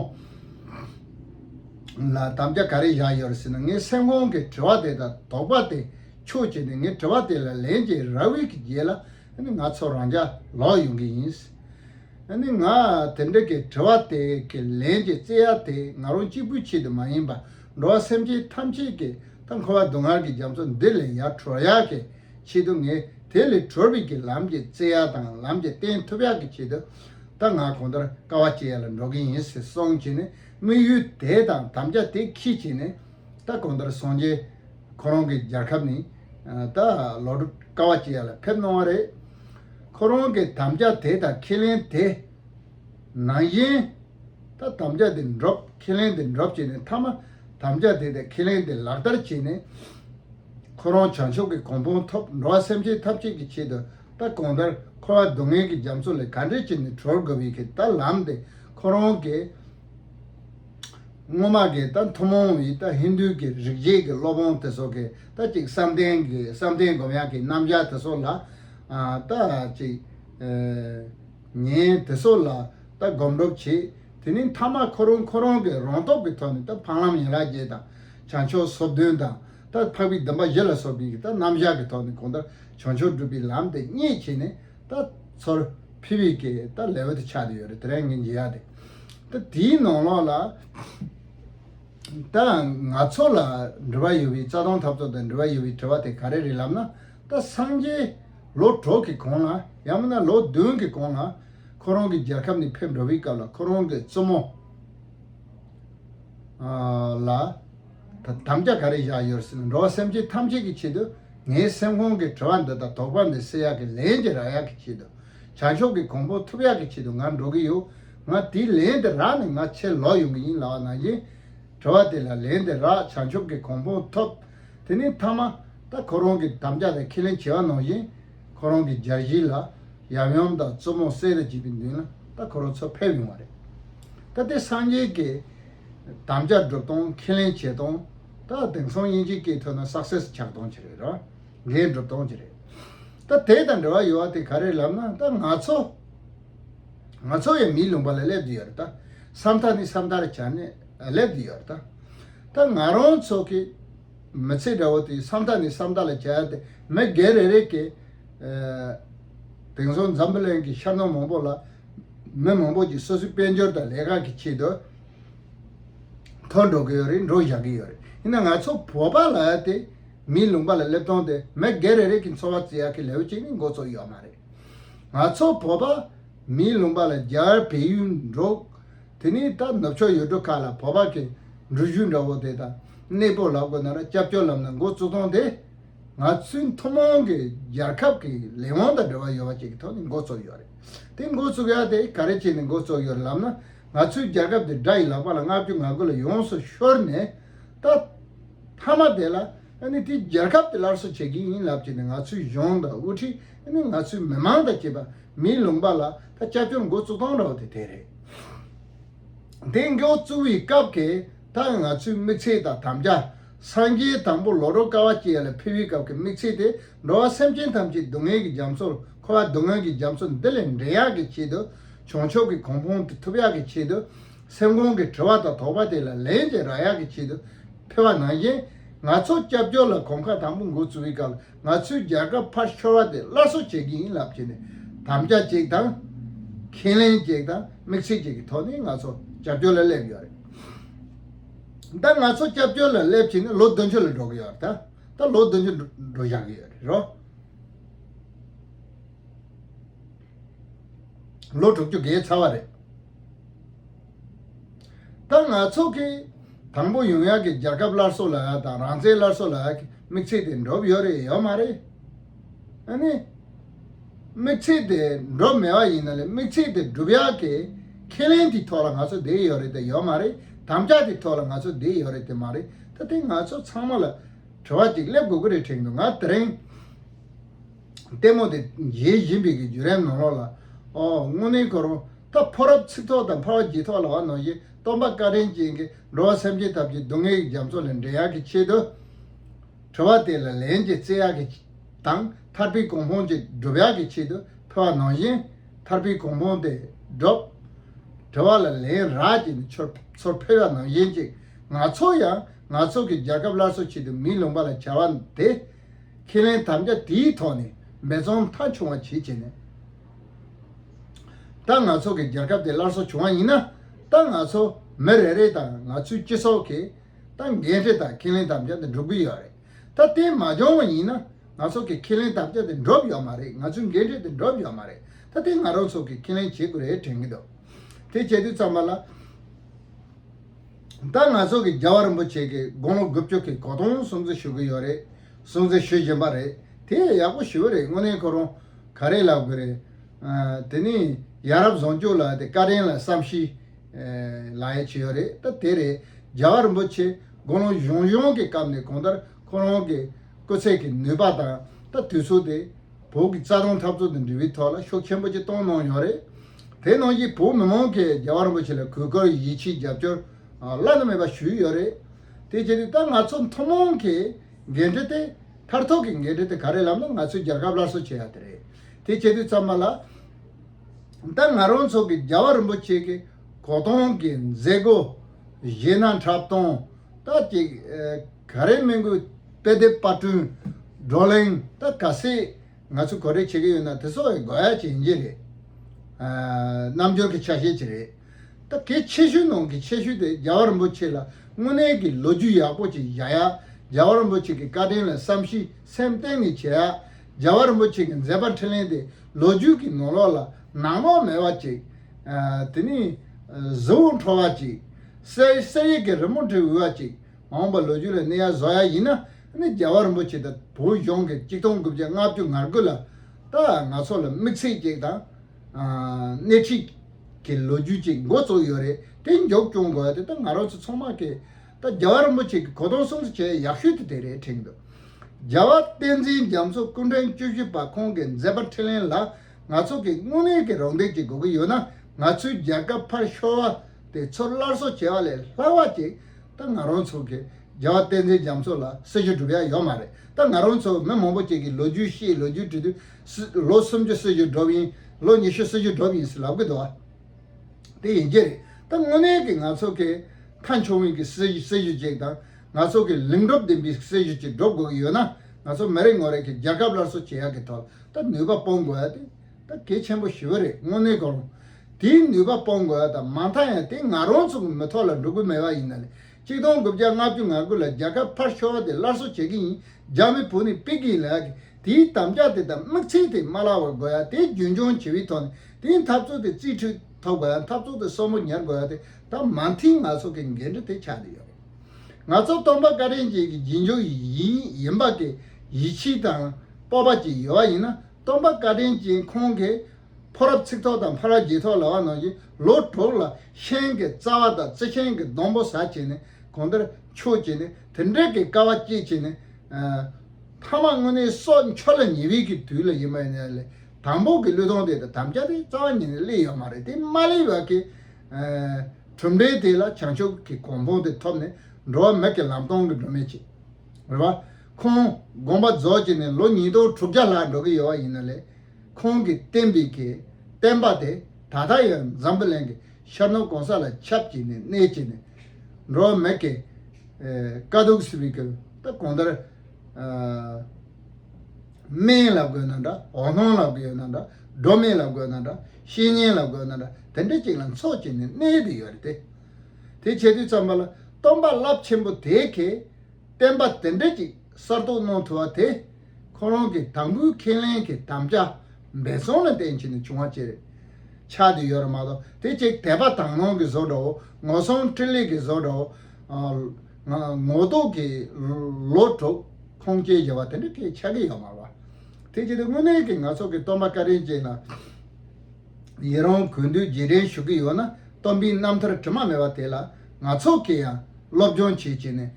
Speaker 1: ལ་དམ་བཅའ་ག་རེ་བཞག་ཡོད་རེད་ཟེར་ན་ངའི་སེམས་ཁོང་གི་དྲི་བ་དེ་དང་དོགས་པ་དེ་ཆོས་བྱས་ནས་ངའི་དྲི་བ་དེ་ལ་ལན་བྱས་ར་བའི་གི་རྗེས་ལ་ང་ཚོ་རང་ཅག་ལོག་ཡོང་གི་ཡིན། ནི་ང་དེ་འདྲ་གི་དྲི་བ་དེ་གི་ལན་གྱི་རྩེ་ཡ་དེ་ང་རང་གཅིག་པུའི་ཆེད་དུ་མ་ཡིན་པར་འགྲོ་བ་སེམས་ཅན་ཐམས་ཅད་ཀྱི་ད་འཁོར་བ་སྡུག་བསྔལ་གྱི་རྒྱ་མཚོ་འདི་ལས་ཡར་གྲོལ་ཡག་གི་ཆེད་དུ་ངས་དེ་ལས་གྲོལ་བའི་གི་ལམ་གྱི་རྩེ་ཡ་དང་ལམ་གྱི་བསྟན་ཐུབ་ཡག་གི་ཆེད་དུ་ད་ང་གང་ལྟར་དཀའ་བ་སྤྱད་ཡ་ལ་འགྲོ་གི་ཡིན་ཟེར་སོང་བྱས་ནས་དམིགས་ཡུལ་དེ་དང་དམ་བཅའ་དེ་ཁྱི་བྱས་ནས་ད་གང་ལྟར་སོང་རྗེས་ཁོ་རང་གི་རྒྱལ་ཁབ་ནས་ད་ལོག་འགྲོ་དཀའ་བ་ཅི་ཡ་ལ་ཕེབས་གནང་བ་རེད། ཁོ་རང་གི་དམ་བཅའ་དེ་དང་ཁས་ལེན་དེ་ནང་བཞིན་ད་དམ་བཅའ་དེ་འགྲོབ་ཁས་ལེན་དེ་འགྲོབ་བྱས་ནས་མཐའ་མ་དམ་བཅའ་དེ་དང་ཁས་ལེན་དེ་ལག་བསྟར་བྱས་ནས་ཁོ་རང་བྱང་ཆུབ་ཀྱི་གོང་ཕུང་ཐོབ་འགྲོ་བ་སེམས་ཅན་ཐབས་ཅད་ཀྱི་ཆེད་དུ། ད་གོང་ལྟར་འཁོར་བ་སྡུག་བསྔལ་གྱི་རྒྱ་མཚོ་ལས་ག་འདྲས་བྱས་ནས་གྲོལ་དགོས་པའི་ཐད་ལ་ལམ་དེ་ཁོ་རང་གིས་སྔོན་མ་གི་ད་ཐུན་མོང་བའི་ད་ཧིན་དུའི་གི་རིག་བྱེད་ཀྱི་སློབ་དཔོན་དེ་ཚོ་གི་ད་ཅིག་བསམ་གཏན་གྱི་བསམ་གཏན་སྒོམ་ཡག་གི་རྣམ་གཞག་དེ་ཚོ་ལ་ད་ཅིག་ཉན་དེ་ཚོ་ལ་ད་སྒོམ་སྒྲུབ་བྱེད་དེ་ནི་མཐའ་མ་ཁོ་རང་ཁོ་རང་གི་རང་སྟོབས་ཀྱི་ཐོག་ནས་ད་འཕང་ལམ་ཡན་ལག་བརྒྱད་དང་བྱང་ཕྱོགས་སོ་བདུན་དང། ལྟར་འཕགས་པའི་སྡོམ་པ་བཞི་ལ་སོགས་པའི་ཡི་དྭགས་རྣམ་བཞག་གི་ཐོག་ནས་གོང་ལྟར་བྱང་ཆུབ་སྒྲུབ་པའི་ལམ་དེ་སྙེད་བྱས་ནས་ད་ཚོར་ཕི་བི་ཀའི་ད་ལེ་ཝེ་ཏུ་ཆགས་ཏེ་ཡོད་རེད་དེ་རིང་ངས་འཇལ་ཡག་དེ་ད་དེའི་ནང་ལོགས་ལ་ད་ང་ཚོ་ལ་འདྲི་བ་ཡོད་པའི་རྩ་དོན་འཐབ་རྩོད་དང་འདྲི་བ་ཡོད་པའི་དྲི་བ་དེ་ག་རེ་རེད་ལབ་ན་ད་སངས་རྒྱས་ལོ་དྲུག་གི་གོང་ལ་ཡང་མིན་ན་ལོ་བདུན་གི་གོང་ལ་ཁོ་རང་གི་རྒྱལ་ཁབ་ནས་ཕེབས་འགྲོ་བའི་སྐབས་ལ་ཁོ་རང་གི་བཙུན་མོ་ལ། དམ་བཅའ་ག་རེ་བཞག་ཡོད་སྲིད་འགྲོ་བ་སེམས་ཅན་ཐམས་ཅད་ཀྱི་ཆེད་དུ་ངའི་སེམས་ཁོང་གི་དྲི་བ་འདི་དག་དོགས་པ་མེད་སེ་ཡག་གི་ལན་གྱི་རག་ཡག་གི་ཆེད་དུ་བྱང་ཕྱོགས་ཀྱི་གོང་ཕོ་ཐུབ་ཡག་གི་ཆེད་དུ་ང་འགྲོ་གི་ཡོད་ང་དེའི་ལན་དེ་རག་ནས་ང་ཕྱིར་ལོག་ཡོང་གི་ཡིན་ལགས་ནང་བཞིན་དྲི་བ་དེ་ལ་ལན་དེ་རག་བྱང་ཕྱོགས་ཀྱི་གོང་ཕོ་ཐོབ་དེ་ནས་མཐའ་མ་ད་ཁོ་རང་གི་དམ་བཅའ་དང་ཁས་ལེན་བྱེད་བ་ནང་བཞིན་ཁོ་རང་གི་སྦྱར་གཞི་ལ་ཡམ་ཡོམ་དང་བཙུན་མོ་གསེར་རི་བྱིས་པའི་མདུན་ལ་ད་ཁོ་རང་ཚུར་ཕེབས་ཡོང་བ་རེད་ད་དེ་སངས་རྒྱས་ཀྱི། དམ་བཅའ་སྒྲུབ་སྟངས་ཁས་ལེན་བྱེད་སྟངས། ད་དེང་སང་དབྱིན་ཇིའི་སྐད་ཐོས་ན Success ཆགས་སྟངས་ཀྱི་རེད། འགན་སྒྲུབ་སྟངས་ཀྱི་རེད། ད་དེ་དང་འབྲེལ་བ་ཡོད་བ་དེ་ག་རེད་ལབ་ན་ད་ང་ཚོ། ང་ཚོ་ཡང་མིའི་ལུང་པ་ལ་སླེབས་ཀྱི་ཡོད་རེད། སམ་མཐའ་ནི་སམ་མཐར་བྱས་ནས་སླེབས་ཀྱི་ཡོད་རེད། ད་ང་རང་ཚོ་གི་མི་ཚེ་འདྲ་བོ་དེ་སམ་མཐའ་ནས་སམ་མཐའ་ལ་བྱས་ཏེ་མི་སྒེར་རེ་རེ་གིས། དེང་སང་འཛམ་བུ་གླིང་གི་ཤར་ནུབ་མང་པོ་ལ་མི་མང་པོ་ཞིག་སོ་སོའི་དཔལ་འབྱོར་དང་ལས་ཀ་གི་ཆེད་དུ་འཐོར་འགྲོ་གི་ཡོད་རེད་འགྲོ་བཞག་གི་ཡོད་རེད་ཡིན་ན་ང་ཚོ་བོད་པ་ལ་དེ་མིའི་ལུང་པ་ལ་སླེབས་སྟངས་དེ་མི་སྒེར་རེ་རེ་གི་འཚོ་བ་བརྩི་ཡག་གི་ལེའུ་གཅིག་ནི་མགོ་ཚོགས་ཡོད་མ་རེད། ང་ཚོ་བོད་པ་མིའི་ལུང་པ་ལ་རྒྱར་བལ་ཡུལ་འགྲོ། དེ་ནས་ད་ནུབ་ཕྱོགས་ཡུལ་གྲུ་ཁག་ལ་བོད་པ་གི་འགྲུལ་བཞུད་འདྲ་བོ་དེ་དང་གནས་སྤོ་ལབ་དགོས་ན་ར་སྐྱབས་སྐྱོར་ལམ་ནས་མགོ་བཙུགས་སྟངས་དེ། ང་ཚོའི་མཐོ་དམངས་གི་རྒྱལ་ཁབ་གི་ལས་དབང་དང་འབྲེལ་བ་ཡོད་པ་བཅས་ཀི་ཐོག་ནས་མགོ་ཚོགས་ཡོད་རེད། དེ་མགོ་བཙུགས་ཡ་དེ་ག་རེ་བྱས་ནས་མགོ་བཙུགས་ཡོད་ལབ་ན་ང་ཚོའི་རྒྱལ་ཁབ་དེ་དགྲ་ཡི་ལག་པ་ལ་བསྔགས་རྒྱུ་ང་དགོད་ལ་ཡོངས་སུ་ཤོར་ནས་ད་ཐ་མ་དེ་ལ་ཨ་ནི་དེ་རྒྱལ་ཁབ་དེ་སླར་གསོ་བྱེད་ཀྱི་ཡིན་ལབ་བྱས་ནས་ང་ཚོའི་གཞུང་དང་དབུ་ཁྲིད་ཨ་ནི་ང་ཚོའི་མི་མང་དང་བཅས་པ་མིའི་ལུང་པ་ལ་ད་སྐྱབས་བཅོལ་མགོ་བཙུགས་སྟངས་ར་བ་དེ་དེ་རེད། དེ་མགོ་བཙུགས་བའི་སྐབས་དེ་དག་ང་ཚོའི་དམིགས་ཚད་དང་དམ་བཅའ། སངས་རྒྱས་དང་པོ་ལོ་རོ་ཀ་བ་བཅས་ལ་ཕུལ་བའི་སྐབས་ཀྱི་དམིགས་ཚད་དེ་འགྲོ་བ་སེམས་ཅན་ཐམས་ཅད་སྡུག་བསྔལ་གྱི་རྒྱ་མཚོར་འཁོར་བ་སྡུག་བསྔལ་གྱི་རྒྱ་མཚོ་འདི་ལས་འདྲེན་ཡག་གི་ཆེད་དུ་བྱང་ཕྱོགས་ཀྱི་གོང་ཕུང་དེ་ཐུབ་ཡག་གི་ཆེད་དུ། སེམས་ཁོང་གི་དྲི་བ་དང་དོགས་པ་དེ་ལ་ལན་ཅིག་རག་ཡག་གི་ཆེད་དུ་ཕེབས་པ་ནང་བཞིན། ང་ཚོ་སྐྱབས་བཅོལ་ལ་གོམ་ཁ་དང་པོ་འགོ་ཚུགས་པའི་སྐབས་ང་ཚོའི་རྒྱལ་ཁབ་ཕར་ཤོར་བ་དེ་སླར་གསོ་བྱེད་ཀྱི་ཡིན་ལབ་བྱས་ནས་དམ་བཅའ་གཅིག་དང། ཁས་ལེན་གཅིག་དང་དམིགས་ཚུལ་གཅིག་གི་ཐོག་ནས་ང་ཚོ་སྐྱབས་བཅོལ་ལ་སླེབས་ཡོད་རེད་ད། ང་ཚོ་སྐྱབས་བཅོལ་ལ་སླེབས་བྱས་ནས་ལོ་བདུན་ཅུ་ལ་འགྲོ་གི་ཡོད་རེད་ད། ད་ལོ་བདུན་ཅུ་འགྲོ་བཞག་གི་ཡོད་རེད་རོ། ལོ་དྲུག་ཅུ་འགའི་ཚར་བ་རེད། ད་ང་ཚོ་གིས་དང་པོ་ཡོང་ཡག་གི་རྒྱལ་ཁབ་སླར་གསོ་ལ་དང་རང་བཙན་སླར་གསོ་ལ་དམིགས་ཚད་དེ་འགྲོ་ཡོད་རེད་ཡོད་མ་རེད། ཨ་ནི། དམིགས་ཚད་དེ་འགྲོ་མེད་པ་ཡིན་ན་ལས་དམིགས་ཚད་དེ་སྒྲུབ་ཡག་གི་ཁས་ལེན་དེའི་ཐོག་ལ་ང་ཚོ་བསྡད་ཡོད་རེད་དེ་ཡོད་མ་རེད་དམ་བཅའ་དེའི་ཐོག་ལ་ང་ཚོ་བསྡད་ཡོད་རེད་དེ་མ་རེད་ད་དེ་ང་ཚོ་ཚང་མ་ལ་གྲོལ་བ་ཅིག་སླེབ་དགོས་ཀི་རེད་དྲན་གི་ང་དེ་རིང། ལྟད་མོ་དེ་ཡེ་ཡིན་པའི་གི་རྒྱུ་རན་ནོ་ལོག་ལ། ཨོ་དངོས་གནས་གོ་རུང་ད་ཕོ་རབ་ཚིག་ཐོག་དང་འཕར་བ་བགྱིད་ཐོག་ལ་བ་ནོ་ཞེས་སྟོང་པ་བཀའ་དྲན་ཅན་གི་འགྲོ་བ་སེམས་ཅན་ཐབས་ཀྱི་སྡུག་བསྔལ་གི་རྒྱ་མཚོ་ལས་འདྲེན་ཡག་གི་ཆེད་དུ། གྲོལ་བ་དེ་ལ་ལན་ཅིག་བརྩེ་ཡག་གི། དང་ཐར་པའི་གོང་འཕོང་ཅིག་སྒྲུབ་ཡག་གི་ཆེད་དུ་ཕེ་བ་ནོ་བཞིན། ཐར་པའི་གོང་བོང་སྟེ་སྒྲོག། དྲི་བ་ལ་ལན་རག་ཅིག་ནི་ཆོས་ཚོར་ཕལ་བ་ནང་བཞིན་ཅིག་ནག་ཚོགས་ཡང་ནག་ཚོགས་ཀྱི་རྒྱལ་ཁབ་སླར་གསོ་བྱེད་དུ་མི་ལོངས་པ་ལ་བྱ་བ་དེ། ཁས་ལེན་དམ་བཅའ་དེའི་ཐོག་ནས་འབད་བརྩོན་མཐའ་འཁྱོངས་བ་བྱེད་བྱས་ནས། ད་ནག་ཚོགས་ཀྱི་རྒྱལ་ཁབ་དེ་སླར་གསོ་བྱུང་བ་ཡིན་ན། ད་ནག་ཚོགས་མི་རེ་རེ་དང་ནག་ཚོའི་སྤྱི་ཚོགས་ཀྱིས་ད་འགན་འཁྲི་དང་ཁས་ལེན་དམ་བཅའ་དེ་སྒྲུབ་གི་ཡོད་རེད། ད་དེ་མ་འབྱུང་བ་ཡིན་ན། ང་ཚོ་གི་ཁས་ལེན་དམ་བཅའ་དེ་འགྲུབ་ཡོད་མ་རེད་ང་ཚོའི་འགན་འཁྲི་དེ་འགྲུབ་ཡོད་མ་རེད་ད་ལྟའི་ང་རང་ཚོ་གི་ཁས་ལེན་བྱེད་དགོས་རེད་དྲན་གྱི་འདུག་དེ་བྱེད་དུས་ཙམ་པ་ལ། ད་ང་ཚོ་གི་རྒྱལ་བ་རིན་པོ་ཆེ་གི་དགུང་ལོ་དགུ་བཅུ་གི་གོ་སྟོང་སྲུང་གཙི་ཞུ་གི་ཡོད་རེད་སྲུང་གཙི་ཞུ་བཞིན་པ་རེད་དེ་ཡག་པོ་ཞུ་རེད་དངོས་གནས་ཁོ་རང་ག་རེ་ལབ་གི་རེད། དེ་ནས་ཡ་རབས་བཟང་སྐྱོ་ལ་དེ་བཀའ་དྲིན་ལ་བསམ་ཤེས་ལ་ཡ་བྱེད་ཡོད་རེད་ད་དེ་རེད་རྒྱལ་བ་རིན་པོ་ཆེ་དགུང་ལོ་གཞུང་ཡོངས་གི་སྐབས་ནས་གོང་ལྟར་ཁོ་རང་གི། སྤུས་ཚད་ཀྱི་ནུས་པ་དང་ལྟ་དུས་ཚུགས་ཏེ། བོད་ཀྱི་རྩ་དོན་འཐབ་རྩོད་དང་འབྲེལ་བའི་ཐོག་ལ་ཤུགས་ཆེན་པོ་ཆེ་གཏོང་གནང་ཡོད་རེད། དེ་ནང་བཞིན་བོད་མི་མང་གིས་རྒྱལ་བ་རིན་པོ་ཆེ་ལ་གུས་བཀུར་ཡིད་ཆེས་རྒྱབ་སྐྱོར་བླ་ན་མེད་པ་ཞུས་ཡོད་རེད། དེ་བྱས་ཏེ་ད་ང་ཚོ་མཐོང་མང་གི་འགན་འཁྲི་དེ། མཐར་ཐུག་གི་འགན་འཁྲི་དེ་ག་རེ་ལབ་ན་ང་ཚོས་རྒྱལ་ཁབ་སླར་གསོ་བྱེད་ཡ་དེ་རེད། དེ་བྱེད་དུས་ཙམ་མ་ལགས། ད་ང་རང་ཚོ་གིས་རྒྱལ་བ་རིན་པོ་ཆེ་གི་གོ་སྟོང་གི་མཛད་སྒོ་གཞས་སྣ་འཁྲབ་སྟོན་ད་ཅིག། ག་རེ་སྨན་སྐུལ་དཔེ་དེབ་དཔར་སྐྲུན། བགྲོ་གླེང། ད་ག་སེ་ང་ཚོས་གོ་རེ་བྱེད་ཀྱི་ཡོད་ན་དེ་སོགས་ཡིན་དགོས་ཡ་ཅི་ཡིན་གྱི་རེད། རྣམ་འགྱུར་གྱི་ཆ་ཤས་ཅི་རེད། ད་གལ་ཆེ་ཤོས་ནང་གི་ཆེ་ཤོས་དེ་རྒྱལ་བ་རིན་པོ་ཆེ་ལ་དངོས་གནས་ཀྱི་ལོ་རྒྱུས་ཡག་པོ་ཅིག་བཞག་ཡ། རྒྱལ་བ་རིན་པོ་ཆེ་གི་བཀའ་དྲིན་ལ་བསམ་ཤེས་སེམས་གཏིང་ནས་བྱེད་ཡ། རྒྱལ་བ་རིན་པོ་ཆེ་གི་མཛད་པ་འཕྲིན་ལན་དེ་ལོ་རྒྱུས་ཀྱི་ནང་ལོག་ལ་ནང་ལོག་མེད་པ་ཅིག། དེ་ནས་གཟི་འོད་འཕྲོ་བ་ཅིག། གསེར་ཡིག་གི་རི་མོ་འབྲི་འོས་པ་ཅིག། འོངས་པ་ལོ་རྒྱུས་ལ་གནས་ཡ་བཟོ་ཡ་ཡིན་ན་ནི་རྒྱལ་བ་རིན་པོ་ཆེ་དང་བོད་གཞུང་གི་གཅིག་སྟོང་དགུ་བརྒྱ་ལྔ་བཅུ་ང་དགུ་ལ་ད་ང་ཚོ་ལ་དམིགས་ཚད་ཅིག་དང། སྣེ་ཁྲིད་ཀྱི་ལོ་རྒྱུས་ཅིག་མགོ་བཙུགས་ཡོད་རེད་དེ་མགྱོགས་སྐྱོང་དགོས་པ་དེ་ད་ང་རང་ཚོ་ཚང་མ་གིས་ད་རྒྱལ་བ་རིན་པོ་ཆེ་གི་གོ་གདོང་སྲུང་བརྩི་བྱེད་ཡ་ཡག་ཤོས་དེ་དེ་རེད་དྲན་འདུག་རྒྱལ་བ་བསྟན་འཛིན་རྒྱ་མཚོ་སྐུ་འཕྲེང་བཅུ་བཞི་པ་ཁོང་གི་མཛད་པ་འཕྲིན་ལན་ལ་ང་ཚོ་གིས་དངོས་གནས་ཀྱི་རོགས་འདེགས་ཅིག་དགོས་ཀྱི་ཡོད་ན་ང་ཚོའི་རྒྱལ་ཁབ་ཕར་ཤོར་བ་དེ་ཚུར་སླར་གསོ་བྱེད་པ་ལས་ལྷག་པ་ཅིག་ད་ང་རང་ཚོ་གི་རྒྱལ་བ་བསྟན་འཛིན་རྒྱ་མཚོ་ལ་སྲི་ཞུ་སྒྲུབ་ཡ་ཡོད་མ་རེད་ད་ང་རང་ཚོ་མི་མང་པོ་གཅིག་གིས་ལོ་རྒྱུས་ཤེས་ལོ་རྒྱུས་བྲི་དུས་ལོ་སུམ་ཅུ་སྲི་ཞུ་སྒྲུབ་ཡིན་ལོ་ཉི་ཤུ་སྲི་ཞུ་སྒྲུབ་ཡིན་ཟེར་ལབ་གི་འདུག་དེ་ཡིན་གྱི་རེད་ད་དངོས་གནས་གི་ང་ཚོ་གི་མཐའ་མཆོག་དབུས་ཀྱི་སྲི་སྲི་ཞུ་གཅིག་དང་ང་ཚོ་གི་ལིང་སྒྲུབ་ལྡན་པའི་སྲི་ཞུ་གཅིག་སྒྲུབ་དགོས་གི་ཡོད་ན་ང་ཚོ་མི་རེ་ངོ་རེ་གིས་རྒྱལ་ཁབ་སླར་གསོ་བྱེད་ཡ་གི་ཐོག་ད་ནུས་པ་སྤོང་དགོས་ཡ་དེ་ད་གེ་ཆེན་པོ་ཞི་བ་རེད་དངོས་གནས་དགོངས། དེའི་ནུས་པ་སྤོང་དགོས་བ་དང་མ་མཐའ་ཡང་དེ་ང་རང་ཚོ་གི་མི་ཐོག་ལ་འགྲོ་གི་མེད་བ་ཡིན་ན་ལས་གཅིག་སྟོང་དགུ་བརྒྱ་ལྔ་བཅུ་ང་དགུ་ལ་རྒྱ་གར་ཕར་ཤོར་བ་དེ་སླར་གསོ་བྱེད་གི་ཡིན་རྒྱ་མི་བོད་ནས་ཕིག་གི་ཡིན་ལགས་ཀྱི་དེའི་དམ་བཅའ་དེ་དང་དམིགས་ཚིག་དེ་མ་ལག་བར་དགོས་ཡ་དེ་རྒྱུན་འཁྱོངས་བྱེད་བའི་ཐོག་ནས་དེའི་འཐབ་རྩོད་དེ་རྩིས་འཕྲུལ་ཐོབ་དགོས་ཡ་འཐབ་རྩོད་དེ་སོར་མོ་ཉར་དགོས་ཡ་དེ་དང་མ་མཐིལ་ང་ཚོ་གི་འགན་འཁྲི་དེ་ཆགས་ཀྱི་ཡོད་རེད། ང་ཚོ་སྟོང་པ་བཀའ་དྲིན་ཅན་གྱི་རྗེས་འཇུག་ཡིན་པ་དེ་ཡིད་ཆེས་དང་སྤོབས་པ་ཅིག་ཡོད་བ་ཡིན་ན། སྟོང་པ་བཀའ་དྲིན་ཅན་ཁོང་གིས་ཕོ་རབ་ཚིག་ཐོག་དང་ཕ་རབ་རྗེས་ཐོག་ལ་བ་ནོར་གྱིས་ལོ་དྲུག་ལ་ཤན་གྱི་རྩ་བ་དང་རྩི་ཤིང་གི་སྡོང་པོ་ཟ་བྱས་ནས་གོང་དེར་ཆུག་ཅིག་ནས་དེ་འབྲེལ་གྱི་ཀ་བ་བསྐྱེད་བྱས་ནས། ཐ་མ་དངོས་གནས་སྲོག་འཆོར་ལ་ཉེ་བའི་གི་དུས་ལ་ཡིན་པ་ནས་ལས་དང་པོ་གི་གླུད་ཐོང་དེ་དང་དམ་བཅའ་དེ་རྩ་བ་ཉིད་ནས་གླེ་ཡོད་མ་རེད་དེ་མ་གླེ་བར་གི། གྲུབ་འབྲས་དེ་ལ་བྱང་ཆུབ་ཀྱི་གོང་ཕུང་དེ་ཐོབ་ནས་འགྲོ་བ་མི་གི་ལམ་སྟོང་གི་སྒྲོན་མེ་བྱེད། རེད་བ། ཁོང་དགོངས་པ་རྫོགས་བྱས་ནས་ལོ་ཉིས་སྟོང་དྲུག་བརྒྱ་ལྷག་འགྲོ་གི་ཡོད་བ་ཡིན་ན་ལས་ཁོང་གིས་བསྟན་པའི་གི་བསྟན་པ་དེ་ད་ལྟ་ཡང་འཛམ་བུ་གླིང་གི་ཤར་ནུབ་གང་ས་ལ་ཁྱབ་ཅིག་ནས་གནས་ཅིག་ནས་འགྲོ་བ་མེད་ཀི། དཀའ་སྡུག་སེལ་བའི་གི་ད་གང་ལྟར། སྨན་ལ་དགོས་ན་འདྲ་འོ་སྣང་ལ་དགོས་ན་འདྲ་སྒྲོ་མེད་ལ་དགོས་ན་འདྲ་བཤེས་གཉེན་ལ་དགོས་ན་འདྲ་དེ་འདྲ་ཅིག་ལ་འཚོགས་བྱས་ནས་གནས་དུ་ཡོད་རེད་དེ། དེ་བྱེད་དུས་བརྩམས་པ་ལ་སྟོན་པ་རླབས་ཆེན་པོ་དེ་གས་བསྟན་པ་དེ་འབྲེལ་གྱི་གསར་གཏོད་གནང་ཐུབ་པ་དེ་ཁོང་རང་གི་དང་པོའི་ཁས་ལེན་གྱི་དམ་བཅའ་འབད་སོང་ལ་བརྟེན་བྱས་ནས་བྱུང་བ་བཅས་རེད། ཆགས་དུས་ཡོད་རེད་མ་གཏོགས་དེ་བྱེད་དད་པ་དང་ནང་གི་བཟོ་འདྲ་བོ་ངོ་སྲུང་སྤྲིན་ལས་ཀྱི་བཟོ་འདྲ་བོ། ངོ་རྟོག་གི་ལོ་དྲུག་ཁོང་སྐྱེལ་བྱས་པ་དེ་འདྲ་ཁས་ཆགས་ཀྱི་ཡོད་མ་རེད། དེ་བྱེད་དུས་དངོས་གནས་ཀྱི་ང་ཚོ་གི་སྟོན་པ་བཀའ་དྲིན་ཅན་ལ། ཡི་རང་གུས་འདུད་རྗེས་དྲན་ཞུ་གི་ཡོད་ན་རྟོམ་པིན་རྣམ་ཐར་དྲི་མ་མེད་པ་དེ་ལ་ང་ཚོ་གི་ཡང་སློབ་སྦྱོང་བྱེད་ཅེས་ནས།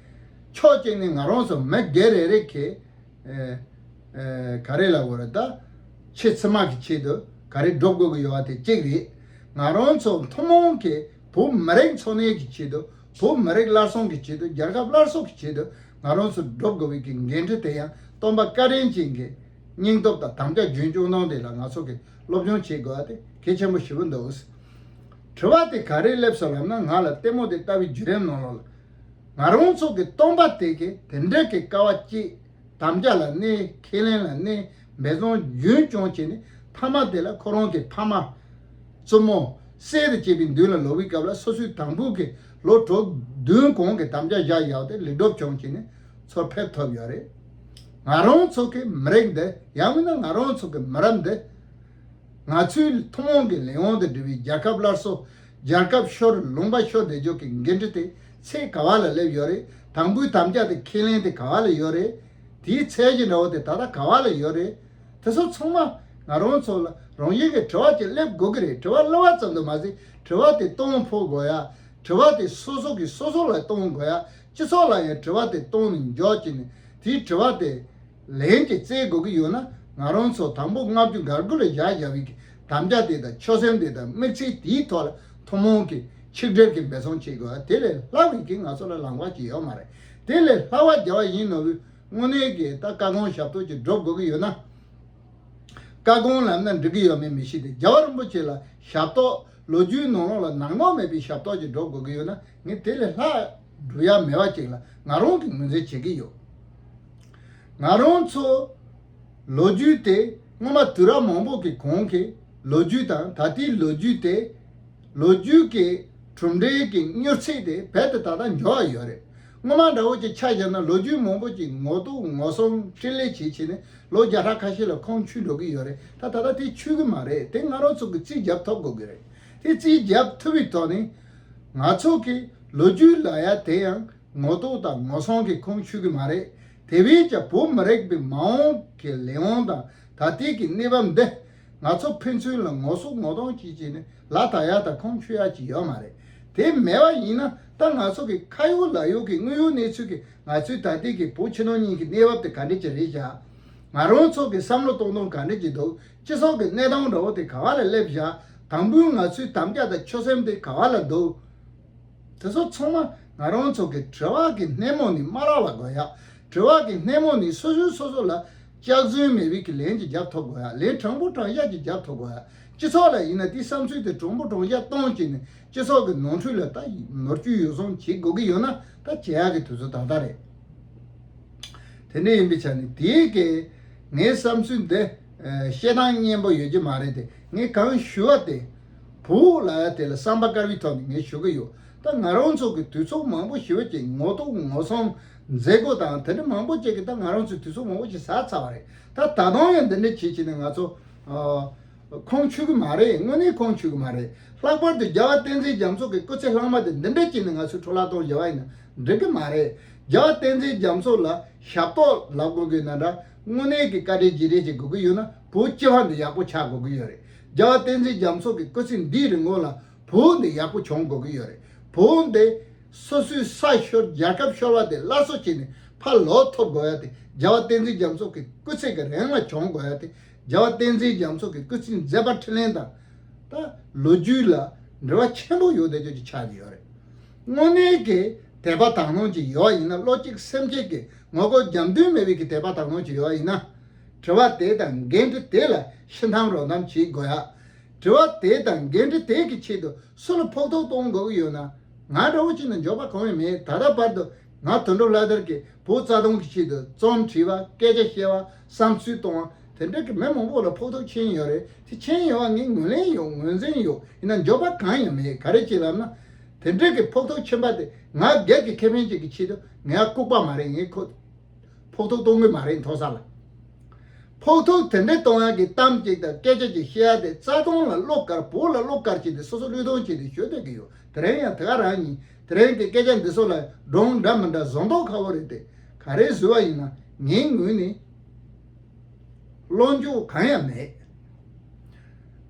Speaker 1: ཕྱོགས་གཅིག་ནས་ང་རང་སོ་མི་སྒེར་རེ་རེ་གིས་ག་རེ་ལ་འོས་ད། ཆེས་ཚི་མ་གི་ཆེད་དུ་ག་རེ་སྒྲུབ་དགོས་ཀྱི་ཡོད་པ་དེ་གཅིག་རེད། ང་རང་ཚོ་མཐུན་མོང་གིས་བོད་མི་རིགས་འཚོ་གནས་ཀྱི་ཆེད་དུ་བོད་མི་རིགས་སླར་གསོང་གི་ཆེད་དུ་རྒྱལ་ཁབ་སླར་གསོ་གི་ཆེད་དུ་ང་རང་ཚོ་སྒྲུབ་དགོས་པའི་གི་འགན་འཁྲི་དེ་ཡང་རྟོམ་པ་བཀའ་དྲིན་ཅན་གྱི་སྙིང་སྟོབས་དང་དམ་བཅའ་རྒྱུན་སྐྱོང་སྟངས་དེ་ལ་ང་ཚོ་གི་སློབ་སྦྱོང་བྱེད་དགོས་པ་དེ་གལ་ཆེན་པོ་ཞེ་པོ་འདུག་དྲི་བ་དེ་ག་རེ་སླེབས་སོང་ལབ་ན་ང་ལ་ལྟད་མོ་དེ་ལྟ་བུའི་བརྒྱུད་རིམ་ནང་ལོག་ལ། ང་རང་ཚོ་གི་སྟོང་པ་དེ་གས་དེ་འདྲས་ཀྱི་དཀའ་བ་སྐྱེད། དམ་བཅའ་ལ་གནས་ཁས་ལེན་ལ་གནས་འབད་བརྩོན་རྒྱུན་སྐྱོང་བྱས་ནས་ཐ་མ་དེ་ལ་ཁོ་རང་གི་ཕ་མ། བཙུན་མོ། སྲས་དེ་བཅས་པའི་མདུན་ལ་ལོག་པའི་སྐབས་ལ་སོ་སོའི་དང་པོ་གི་ལོ་དྲུག་བདུན་གོང་གི་དམ་བཅའ་བཞག་ཡག་ཏེ་ལེགས་སྒྲུབ་སྦྱོང་བྱས་ནས་ཚོར་ཕེབས་ཐོབ་ཡོད་རེད། ང་རང་ཚོ་གི་མི་རིགས་འདི་ཡང་མིན་ན་ང་རང་ཚོ་གི་མི་རབས་འདི། ང་ཚོའི་ཐུན་མོང་གི་ལས་དབང་དུ་བསྒྲིལ་བའི་རྒྱལ་ཁབ་སླར་གསོ་རྒྱལ་ཁབ་ཤོར་ལུང་པ་ཤོར་བསྡད་འཇོག་གི་འགན་འཁྲི་དེ་ཚེ་ག་བ་ལ་སླེབས་ཡོད་རེད་དང་པོའི་དམ་བཅའ་དེ་ཁས་ལེན་དེ་ག་བ་ལ་ཡོད་རེད། དེའི་ཚད་གཞི་འདྲ་བོ་དེ་ད་ལྟ་ག་བ་ལ་ཡོད་རེད། དེ་ཚོ་ཚང་མ་ང་རང་ཚོ་ལ་རང་བཞིན་གྱི་དྲི་བ་གཅིག་སླེབས་དགོས་ཀྱི་རེད་དྲི་བ་སླེ་བ་ཙམ་དུ་མ་ཟད་དྲི་བ་དེ་གཏོང་ཕོད་དགོས་ཡ་དྲི་བ་དེ་སོ་སོ་གིས་སོ་སོ་ལ་གཏོང་དགོས་ཡ། སྤྱི་ཚོགས་ལ་ཡང་དྲི་བ་དེ་གཏོང་ནས་འཇོག་བྱས་ནས་དེའི་དྲི་བ་དེ་ལན་གྱིས་བཙལ་དགོས་ཀྱི་ཡོད་ན་ང་རང་ཚོ་དང་པོ་ལྔ་བཅུ་འགར་དགུ་ལ་བཞག་བཞག་བིས་ཀྱི་དམ་བཅའ་དེ་དང་ཆོད་སེམས་དེ་དང་དམིགས་ཚད་དེའི་ཐོག་ལ་ཐུན་མོང་གི་ཆིག་སྒྲིལ་གྱི་འབད་བརྩོན་བྱེད་དགོས་པ་དེ་ལས་སླ་བིས་ཀྱི་ང་ཚོ་ལ་ལངས་པ་ཅི་ཡོད་མ་རེད་དེ་ལས་སླ་བ་རྒྱལ་བ་ཡིན་ནོ་བིས་དངོས་གནས་ཀྱི་ད་བཀའ་དགོངས་ཞབས་ཏོག་ཅིག་སྒྲུབ་དགོས་ཀྱི་ཡོད་ན། བཀའ་དགོངས་ལམ་སྣ་འགྲིག་གི་ཡོད་མེད་མི་ཤེས་ཏེ་རྒྱལ་བ་རིན་པོ་ཆེ་ལ་ཞབས་ཏོག་ལོ་རྒྱུས་ནོར་ལོངས་ལ་ནག་ནོག་མེད་པའི་ཞབས་ཏོག་ཅིག་སྒྲོབ་དགོས་ཀྱི་ཡོད་ན། ངས་དེ་ལས་ལྷག་འབྲུ་ཡག་མེད་པ་ཅིག་ལ་ང་རང་གིས་ངོས་འཛིན་བྱེད་ཀྱི་ཡོད། ང་རང་ཚོ་ལོ་རྒྱུས་དེ་སྔོན་མ་དུས་རབས་མང་པོ་གི་གོང་གི་ལོ་རྒྱུས་དང་ད་ལྟའི་ལོ་རྒྱུས་དེ། ལོ་རྒྱུས་ཀྱི་གྲུབ་འབྲས་ཀྱི་མྱུར་ཚད་དེ་རྦད་དེ་ད་ལྟ་མགྱོགས་ཡ་ཡོད་རེད། སྔོན་མ་འདྲ་བོ་ཅིག་ཆ་བཞག་ན་ལོ་རྒྱུས་མང་པོ་ཅིག་ངོ་གཏུག་ངོ་སྲུང་ཕྲིན་ལས་བྱེད་བྱེད་ནས་ལོ་བརྒྱ་ཕྲག་ཁ་ཤས་ལ་ཁོང་ཆུད་འགྲོ་གི་ཡོད་རེད་ད་ད་ལྟ་དེ་ཆུད་ཀྱི་མ་རེད་དེ་ང་རང་ཚོ་གིས་རྩིས་རྒྱབ་ཐོབ་དགོས་ཀྱི་རེད་དེ་རྩིས་རྒྱབ་ཐུབ་པའི་ཐོག་ནས། ང་ཚོ་གིས་ལོ་རྒྱུས་ལ་ཡ་དེ་ཡང་ངོ་རྟོགས་དང་ངོ་སྲུང་གི་ཁུངས་ཆུད་ཀྱི་མ་རེད། དེ་བས་ཀྱང་བོད་མི་རིགས་པའི་མ་འོངས་ཀྱི་ལས་དབང་དང་ད་ལྟའི་གི་གནས་བབ་འདི་ང་ཚོ་ཕན་ཚུན་ལ་ངོ་སྲུང་ངོ་རྟོགས་བྱེད་ཀྱི་ནི་ལ་དྭགས་ཡ་དང་ཁུངས་ཆུད་ཡ་གྱི་ཡོད་མ་རེད། དེ་མེད་པ་ཡིན་ན་ད་ང་ཚོ་གི་ཁ་ཡོག་ལག་ཡོག་གི་དངོས་ཡོད་གནས་ཚུལ་གི་ང་ཚོའི་ད་ལྟའི་གི་བོད་ཕྱི་ནང་གཉིས་གི་གནས་བབ་དེ་ག་འདྲ་གྱི་རེད་བྱ། ང་རང་ཚོ་གི་བསམ་བློ་གཏོང་སྟངས་ག་འདྲ་གྱི་འདུག་ཅེས་སོགས་ཀྱི་གནད་དང་བྲོ་དེ་ག་བ་ལ་སླེབས་བཞག་དང་པོའི་ང་ཚོའི་དམ་བཅའ་དང་ཆོད་སེམས་དེ་ག་བ་ལ་འདུག། དེ་ཚོ་ཚང་མ་ང་རང་ཚོ་གི་བྲོ་བ་གི་སྣེ་མོ་ནི་སྨ་ར་བ་དགོས་ཡ། བྲོ་བ་གི་སྣེ་མོ་ནི་སོ་སོའི་སོ་སོ་ལ་ལྕགས་བཟོའི་མེ་རི་གི་ལན་གྱི་རྒྱབ་ཐོ་དགོས་ཡ་ལན་དྲང་པོ་དྲང་གཞག་གྱི་རྒྱབ་ཐོ་དགོས་ཡ་སྤྱི་ཚོགས་ལ་ཡིན་ན་དེའི་བསམ་ཚུལ་དེ་དྲང་པོ་དྲང་གཞག་གཏོང་བྱེད་ནས་སྤྱི་ཚོགས་ཀྱི་ནོར་འཁྲུལ་ལ་ད་ནོར་བཅུད་ཡོ་བསྲང་བྱེད་དགོས་ཀྱི་ཡོད་ན་ད་བྱེད་ཡ་གི་དུས་ཚོད་ད་ལྟ་རེད། དེ་འདྲ་ཡིན་པའི་ཆ་ནས་དེའི་སྐད་ངའི་བསམ་ཚུལ་འདི་བཤད་སྟངས་སྙན་པོ་ཡོད་ཀྱི་མ་རེད་དེ་ངས་གང་ཞུ་བ་དེ་བོུ་ལ་དེ་ལ་བསམ་པ་དཀར་བའི་ཐོག་ནས་ངས་ཞུ་གི་ཡོད་ད་ང་རང་ཚོ་གི་དུས་ཚོགས་མང་པོ་ཞིག་བོད་ཀྱི་ངོ་གཏུག་ངོ་ཚང་མཛད་སྒོ་དང་དེ་འདྲ་མང་པོ་བྱས་ཀྱི་ད་ང་རང་ཚོའི་དུས་ཚོགས་མང་པོ་ཞིག་ཟགས་ཚར་བ་རེད་ད་ད་དུང་ཡང་འདི་འདྲ་བྱེད་བྱེད་ནས་ང་ཚོ་ཁོང་ཆུད་ཀྱི་མ་རེད་དངོས་གནས་ཁོང་ཆུད་ཀྱི་མ་རེད་ལྷག་པར་དུ་རྒྱལ་བ་བསྟན་འཛིན་རྒྱ་མཚོ་གི་སྐུ་ཚེ་ལྷག་མ་དེ་འདི་འདྲ་བྱས་ནས་ང་ཚོའི་འཕྲོ་བརླག་གཏོང་བཞིན་པ་ཡིན་ན་འགྲིག་གི་མ་རེད། རྒྱ་བསྟན་འཛིན་རྒྱ་མཚོ་ལ་ཞབས་ཏོག་ལབ་དགོས་གི་ན་འདྲ། དངོས་གནས་ཀྱི་བཀའ་དྲིན་རྗེས་དྲན་བྱེད་དགོས་གི་ཡོད་ན་བོུ་སྐྱེ་བ་འདི་ཡག་པོ་ཆགས་དགོས་གི་ཡོད་རེད། རྒྱ་བསྟན་འཛིན་རྒྱ་མཚོ་གི་སྐུ་ཚེ་འདིའི་རིང་ངོ་ལ་བོུ་འདི་ཡག་པོ་བྱུང་དགོས་གི་ཡོད་རེད། བོུ་འདི་སོ་སོའི་ས་ཤོར་རྒྱལ་ཁབ་ཤོར་བ་དེ་སླར་གསོ་བྱེད་ནས་ཕ་ལོག་ཐོབ་དགོས་ཡ་དེ་རྒྱ་བསྟན་འཛིན་རྒྱ་མཚོ་གི་སྐུ་ཚེ་གི་རེང་ལ་བྱུང་དགོས་ཡ་དེ་རྒྱ་བསྟན་འཛིན་རྒྱ་མཚོ་གི་སྐུ་ཚེ་མཛད་པ་ཁྲི་ལེན་དང། ལོ་རྒྱུས་ལ་འབྲེལ་བ་ཆེན་པོ་ཡོད་དེ་ཅོ་ཅི་ཆགས་གི་ཡོད་རེད། དངོས་གནས་ཀྱི་དད་པ་དག་སྣང་གི་ཡོ་བ་ཡིན་ན་བློ་གཅིག་སེམས་གཅིག་གི་ངོ་རྒོལ་རྒྱབ་མདུན་མེད་པའི་གི་དད་པ་དག་སྣང་གི་ཡོ་བ་ཡིན་ན། དྲི་བ་དེ་དང་འགན་འཁྲི་དེ་ལ་ཤི་འཐམ་རོ་འཐམ་བྱེད་དགོས་ཡ། དྲི་བ་དེ་དང་འགན་འཁྲི་དེ་གི་ཆེད་དུ་སུ་ལ་ཕོག་ཐུག་གཏོང་དགོས་ཀྱི་ཡོད་ན། ང་འདྲ་བོ་ཅིག་ནི་འཇོག་པ་གང་ཡང་མེད་ད་ལྟ་བར་དུ་ང་དོན་གྲུབ་ལྷ་དར་གྱི་བུ་རྩ་སྟོང་གི་ཆེད་དུ་རྩོམ་བྲིས་པ་སྐད་ཆ་བཤད་པ་བསམ་ཚུལ་གཏོང་བ་དེ་འདྲ་གི་མི་མང་པོ་ལ་ཕོག་ཐུག་མཁྱེན་ཡོད་རེད་དེ་མཁྱེན་ཡོད་པ་ངས་ངོས་ལེན་ཡོད་ངོས་འཛིན་ཡོད་ཡིན་ན་འཇོག་པ་གང་ཡང་མེད་ག་རེ་བྱེད་ལབ་ན། དེ་འདྲ་གི་ཕོག་ཐུག་མཁྱེན་པ་དེ་ང་སྒེར་གི་ཁེ་ཕན་ཅིག་གི་ཆེད་དུ་ངས་ལྐུག་པ་མ་རེད་ངས་ཁོ་ཕོག་ཐུག་གཏོང་གི་མ་རེད་མཐོ་ས་ལ། ཕོག་ཐུག་དེ་འདྲ་གཏོང་ཡག་གི་གཏམ་ཅིག་དང་སྐད་ཆ་ཅིག་བཤད་ཡག་དེ་རྩ་སྟོང་ལ་བློ་དཀར་བོད་ལ་བློ་དཀར་བྱས་ཏེ་སོ་སོ་བློས་གཏོང་བྱས་ཏེ་ཞུ་འདོད་ཀི་ཡོད་དེ་རིང་ཡང་དེ་ག་རང་ཡིན་དེ་རིང་གི་སྐད་ཆ་འདི་ཚོ་ལ་སྒྲོག་འདྲ་མི་འདྲ་བཟོ་མདོག་ཁ་བོ་རེད་དེ་ག་རེ་བཟོས་བ་ཡིན་ན་ངའི་ངོས་ནས་བློ་འགྱོག་གང་ཡང་མེད།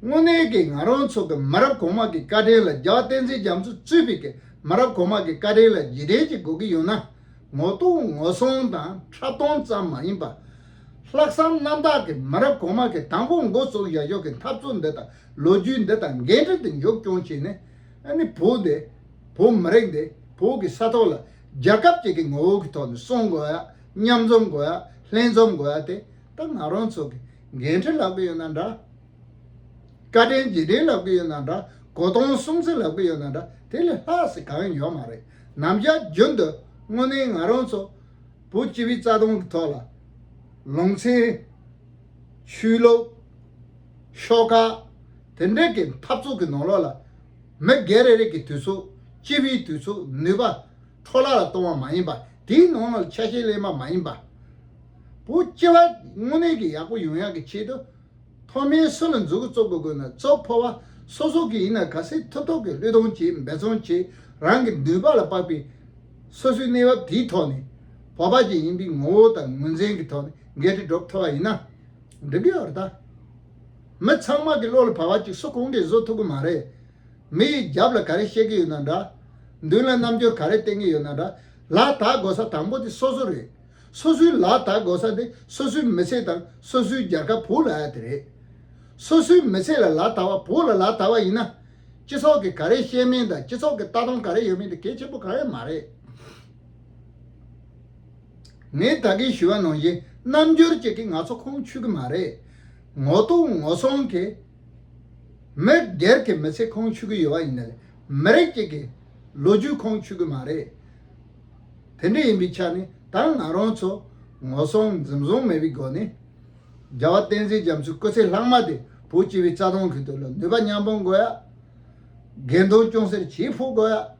Speaker 1: དངོས་གནས་ཀྱི་ང་རང་ཚོ་གི་མི་རབས་གོང་མ་གི་བཀའ་དྲིན་ལ་རྒྱ་བསྟན་འཛིན་རྒྱ་མཚོ་གཙོས་པའི་གི་མི་རབས་གོང་མ་གི་བཀའ་དྲིན་ལ་རྗེས་དྲན་གྱི་དགོས་ཀྱི་ཡོད་ན་ངོ་གཏུག་ངོ་གསུང་དང་ཕྲ་མཐོང་ཙམ་མ་ཡིན་པར། ལྷག་བསམ་རྣམ་དག་གི་མི་རབས་གོང་མ་གི་དང་པོ་འགོ་བཙུགས་བཞག་ཕྱོགས་ཀྱི་འཐབ་རྩོད་འདི་དང་ལོ་རྒྱུས་འདི་དང་འགན་འཁྲི་འདི་མཇུག་སྐྱོང་བྱས་ནས། ཨ་ནི་བོད་དེ། བོད་མི་རིགས་འདི་བོད་ཀྱི་ས་ཐོག་ལ་རྒྱལ་ཁབ་ཅིག་གི་ངོ་བོ་གི་ཐོག་ནས་གསུང་དགོས་ཡ་མཉམ་འཛོམས་དགོས་ཡ་ལྷན་འཛོམས་དགོས་ཡ་དེ་ད་ང་རང་ཚོ་གི་འགན་འཁྲི་ལབ་གི་ཡོད་ན་འདྲ། བཀའ་དྲིན་རྗེས་དྲིན་ལབ་གི་ཡོད་ན་འདྲ་གོ་སྟོང་གསུམ་ཚིག་ལབ་གི་ཡོད་ན་འདྲ་དེ་ལས་ལྷག་ཟིག་གང་ཡོད་མ་རེད་ནམ་ཞག་རྒྱུན་དུ་དངོས་གནས་ང་རང་ཚོ་བོད་སྤྱི་བའི་རྩ་དོན་གི་ཐོག་ལ་ལུང་ཚན། ཆོས་ལུགས། ཤོག་ཀ། དེ་འབྲེལ་གྱི་འཐབ་རྩོད་ཀྱི་ནང་ལོགས་ལ། མི་སྒེར་རེ་རེ་གྱི་དུས་ཚོད། སྤྱི་བའི་དུས་ཚོད་ནུས་པ། འཕྲོ་བརླག་ལ་གཏོང་བ་མ་ཡིན་པ། དེའི་ནང་ལོགས་ལ་ཆ་ཤས་གླེང་བ་མ་ཡིན་པ། བོ། སྤྱི་བ། དངོས་གནས་ཀྱི་ཡག་པོ་ཡོང་ཡག་གི་ཆེད་དུ། ཐོག་མའི་སུ་ལ་འཛུགས་གཙོ་དགོས་དགོས་ན་གཙོ་ཕོ་བ། སོ་སོ་གི་ཡིན་ན་ག་སེ་ཐུབ་ཐོག་གི་བློས་གཏོང་བྱེད་འབད་བརྩོན་བྱེད་རང་གི་ནུས་པ་ལ་དཔག་པའི། སོ་སོའི་གནས་བབ་དེའི་ཐོག་ནས། བོ་བ་ཅན་ཡིན་པའི་ངོ་བོ་དང་ངོས་འཛིན་གྱི་ཐོག་ནས་འགལ་འབྲེལ་སྒྲོབ་ཐུབ་པ་ཡིན་ན། འདི་འདྲའི་བར་དག། མི་ཚང་མ་གི་བློ་ལ་བབ་བ་ཅིག་སུ་གང་གིས་བཟོ་ཐུབ་གི་མ་རེད། མི་ཡི་རྒྱབ་ལ་ག་རེ་བཤད་གི་ཡོད་ན་འདྲ། མདུན་ལ་རྣམ་འགྱུར་ག་རེ་བསྟན་གི་ཡོད་ན་འདྲ། ལག་དག་དགོས་ས་དང་པོ་དེ་སོ་སོ་རེད། སོ་སོའི་ལག་དག་དགོས་ས་དེ་སོ་སོའི་མི་ཚེ་དང་སོ་སོའི་རྒྱལ་ཁབ་བོུ་ལ་ཨ་དེ་རེད། སོ་སོའི་མི་ཚེ་ལ་ལག་དག་བ་བོུ་ལ་ལག་དག་བ་ཡིན་ན། སྤྱི་ཚོགས་ཀྱི་ག་རེ་བཤད་མིན་དང་སྤྱི་ཚོགས་ཀྱི་ལྟ་སྟངས་ག་རེ་ཡོད་མིན་དེ་གལ་ཆེན་པོ་ག་རེ་མ་རེད། ངས་ད་གིན་ཞུ་བ་ནང་བཞིན་རྣམ་འགྱུར་ཅིག་གིས་ང་ཚོ་ཁུངས་ཆུད་ཀྱི་མ་རེད། ངོ་གཏུག་ངོ་སྲུང་གིས་མི་སྒེར་གྱི་མི་ཚེ་ཁུངས་ཆུད་ཀྱི་ཡོད་པ་ཡིན་ན་ལས་མི་རིགས་གཅིག་གི་ལོ་རྒྱུས་ཁུངས་ཆུད་ཀྱི་མ་རེད། དེ་འདྲ་ཡིན་པའི་ཆ་ནས་ད་ང་རང་ཚོ་ངོ་སྲུང་འཛིན་བཟུང་མེད་པའི་སྒོ་ནས་རྒྱ་བ་བསྟན་འཛིན་རྒྱ་མཚོའི་སྐུ་ཚེ་ལྷག་མ་དེ་བོད་སྤྱི་བའི་རྩ་དོན་གྱི་དོན་ལ་ནུས་པ་མཉམ་སྤུངས་དགོས་ཡ། དགེ་འདུན་སྐྱོང་སེར་བྱེད་ཕོད་དགོས་ཡ།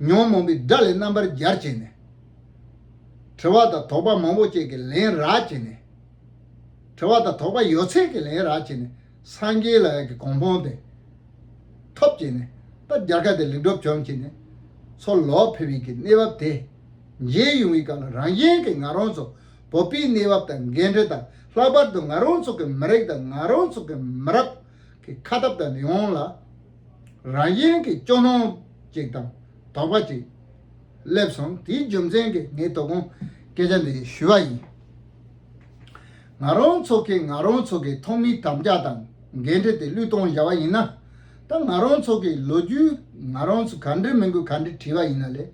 Speaker 1: ཉོན་མོངས་པའི་དགྲ་ལས་རྣམ་པར་སྦྱར་བྱས་ནས། དྲི་བ་དང་དོགས་པ་མང་པོ་བཅས་ཀྱི་ལན་རགས་བྱས་ནས། དྲི་བ་དང་དོགས་པ་ཡོད་ཚད་ཀྱི་ལན་རགས་བྱས་ནས་སངས་རྒྱས་ལ་ཡང་གི་གོང་སྤོང་སྟེ། ཐོབ་བྱས་ནས་པ་སྦྱར་ཁ་དེ་ལེགས་གྲུབ་བྱུང་བྱས་ནས། ཚོར་ལོག་འཕེལ་བའི་གི་གནས་བབས་དེ། འཇལ་ཡུང་བའི་སྐབས་ལ་རང་གཞན་གྱི་ང་རང་ཚོ་བོ་པའི་གནས་བབས་དང་འགལ་འབྲེལ་དང་ལྷག་པར་དུ་ང་རང་ཚོ་གི་མི་རིགས་དང་ང་རང་ཚོ་གི་མི་རབས་ཀྱི་ཁ་སྟབས་དང་ལེའུ་ཡོངས་ལ། རང་ཡན་གྱི་སྐྱོ་སྣང་ཅིག་དང་དོགས་པ་ཅིག་སླེབས་སོང་དེའི་རྒྱུ་མཚན་གྱིས་ངས་དོ་དགོང་སྐད་ཆ་འདི་ཞུས་པ་ཡིན། ང་རང་ཚོ་གིས་ང་རང་ཚོ་གི་ཐོག་མིའི་དམ་བཅའ་དང་འགན་འཁྲི་དེ་བློས་གཏོང་བཞག་པ་ཡིན་ན། ད་ང་རང་ཚོ་གི་ལོ་རྒྱུས་ང་རང་ཚོ་ག་འདྲི་མི་དགོས་ག་འདྲི་བྲིས་པ་ཡིན་ན་ལས།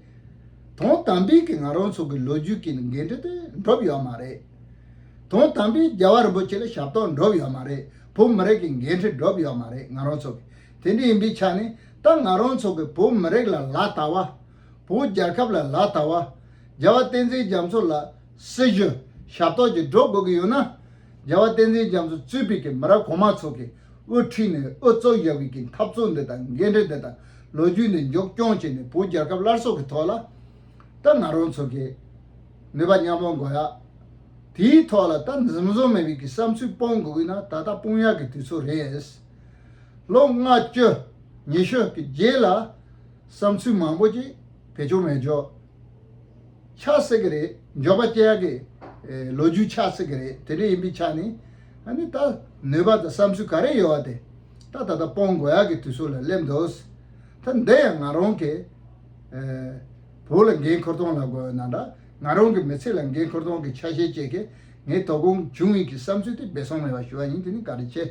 Speaker 1: དོན་དམ་པའི་གི་ང་རང་ཚོ་གི་ལོ་རྒྱུས་ཀྱི་འགན་འཁྲི་དེ་འགྲུབ་ཡོད་མ་རེད། དོན་དམ་པའི་རྒྱལ་བ་རིན་པོ་ཆེ་ལ་ཞབས་ཏོག་འགྲུབ་ཡོད་མ་རེད། བོད་མི་རིགས་ཀྱི་འགན་འཁྲི་སྒྲུབ་ཡོད་མ་རེད་ང་རང་ཚོ་གིས་དེ་འདྲ་ཡིན་པའི་ཆ་ནས་ད་ང་རང་ཚོ་གིས་བོད་མི་རིགས་ལ་ལ་དྭགས་བ། བོད་རྒྱལ་ཁབ་ལ་ལ་དྭགས་བ། རྒྱལ་བ་བསྟན་འཛིན་རྒྱ་མཚོ་ལ་སྲི་ཞུ་ཞབས་ཏོག་ཅིག་སྒྲུབ་དགོས་ཀྱི་ཡོད་ན། རྒྱལ་བ་བསྟན་འཛིན་རྒྱ་མཚོ་གཙོས་པའི་གི་མི་རབས་གོང་མ་ཚོ་གིས་དབུ་ཁྲིད་ནས་དབུ་གཙུག་ཡོད་པའི་གི་འཐབ་རྩོད་འདི་དང་འགན་འཁྲི་འདི་དང་ལོ་རྒྱུས་འདི་མཇུག་སྐྱོང་བྱས་ནས་བོད་རྒྱལ་ཁབ་སླར་གསོ་གི་ཐོག་ལ། ད་ང་རང་ཚོ་གིས་ནུས་པ་མཉམ་སྤུངས་དགོས་ཡ། དེའི་ཐོག་ལ་སྟབས་འཛེམ་བཟོ་མེད་པའི་གི་བསམ་ཚུལ་སྤོང་དགོས་ཀི་ན་ད་ལྟ་སྤོང་ཡག་གི་དུས་ཚོད་རེད། ལོ་ལྔ་བཅུ་ཉི་ཤུ་གི་རྗེས་ལ་བསམ་ཚུལ་མང་པོ་ཅིག་བེད་སྤྱོང་མེད་འཇོག་ཆགས་སྲིད་གི་རེད་འཇོག་པ་བཅད་ཡག་གི་ལོ་རྒྱུས་ཆགས་སྲིད་གི་རེད་དེ་འདྲ་ཡིན་པའི་ཆ་ནས་ཨ་ནི་ད་ནུས་པ་དང་བསམ་ཚུལ་ག་རེ་ཡོད་བ་དེ་ད་ད་ལྟ་སྤོང་དགོས་ཡག་གི་དུས་ཚོད་ལ་སླེབས་འདུག་ད་འདི་ཡང་ང་རང་གི་བུ་ལ་འགན་ཁུར་སྟངས་ལ་དགོས་ན་འདྲ། ང་རང་གི་མི་ཚེ་ལ་འགན་འཁུར་སྟངས་ཀྱི་ཆ་ཤས་བཅས་ཀྱིས་ངའི་དོ་དགོང་འབྱུང་ངེས་ཀྱི་བསམ་ཚུལ་དེ་སྦས་སོང་མེད་པ་ཞུ་བ་ཡིན་དེ་ནི་ག་རེ་བྱེད།